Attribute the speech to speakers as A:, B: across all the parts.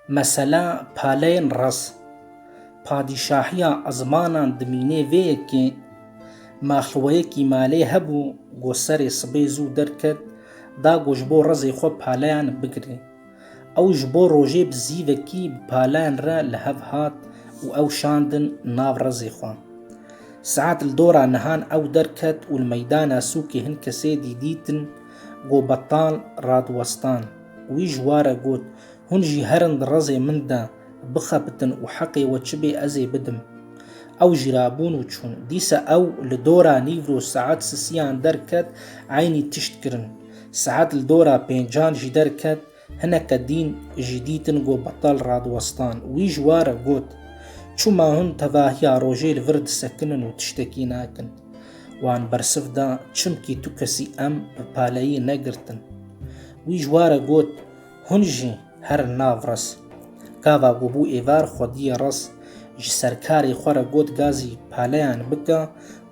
A: Mesela Paleyên Raz, padîşahiya Ezmanan dimînê vê yekê, Maxluweyekî malê hebû ku serê sibê zû derket da ku ji bo rezê xwe paleyan bigirê. Ew ji bo rojê bi zîvekî bi paleyan re li hev hat û ew şandin nav rezê xwe. Saet li dora nihan ew derket û li meydana sûkê hin kesêdî dîtin Go betal radiwestan. Wî ji wa re got, Hûn jî herin di rezê min de bixebitin û heqê we çi bê ez ê bidim. Ew jî rabûn û çûn. Dîsa ew li dora nîvro saet sisiyan derket, eynî tişt kirin. Saet li dora pêncan jî derket. Hineke dîn jî dîtin ku betal radiwestan. Wî ji wa re got, Çû ma hûn tevahiya rojê li vir disekinin û tiştekî nakin? Wan bersiv da, Çimkî tu kesî em bi paleyî negirtin. Wî ji wa re got, Hûn jî herin nav res. Gava ku bû êvar xwediyê res, ji serkarê xwe re got gazî paleyan bike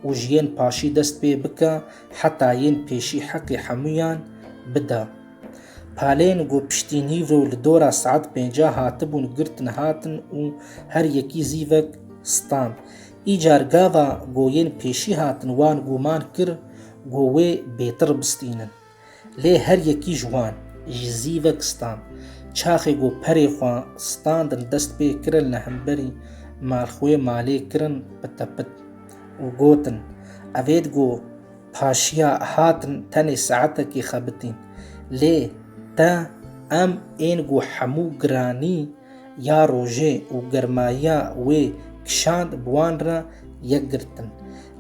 A: û ji yên paşî dest pê bike heta yên pêşî heqê hemûyan bide. Palên ku piştî nîv û li dora saet pêncah hatibûn girtin hatin û her yekî zîvek stand. Îcar gava goyên pêşî hatin wan gûman kir ku wê bêtir bistînin. Lê her yekî ji wan jî zîvek stand. Çaxê ku perê xwe standin dest pê kirin li hemberî malxwê malê kirin pite pit û gotin, Evêt ku Paşiya hatin tenê saetekî xebitîn. Lê te em ên ku hemû giranî ya rojê û germayiya wê kişand bi wan re yek girtin.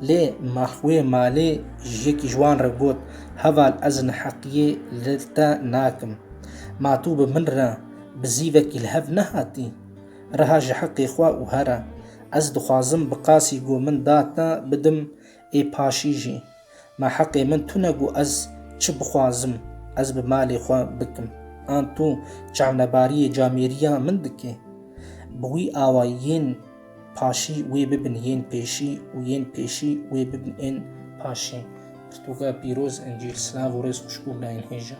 A: Lê Maxwê malê ji yekî ji wan re got, Heval ez neheqiyê li te nakim. Ma tu bi min re bi zîvekî li hev nehatî? Reha ji heqê xwe û here. Ez dixwazim bi qasî ku min da te bidim Ê paşî jî ma heqê min tune ku ez çi bixwazim ez bi malê xwe bikim. An tu çavnebariyê camêriya min dikê? Bi wî awayî yên paşî wê bibin yên pêşî û yên pêşî wê bibin ên paşî. Pirtûka pîroz, Încîl, Silav û Rêz xwişk û birayên hêja.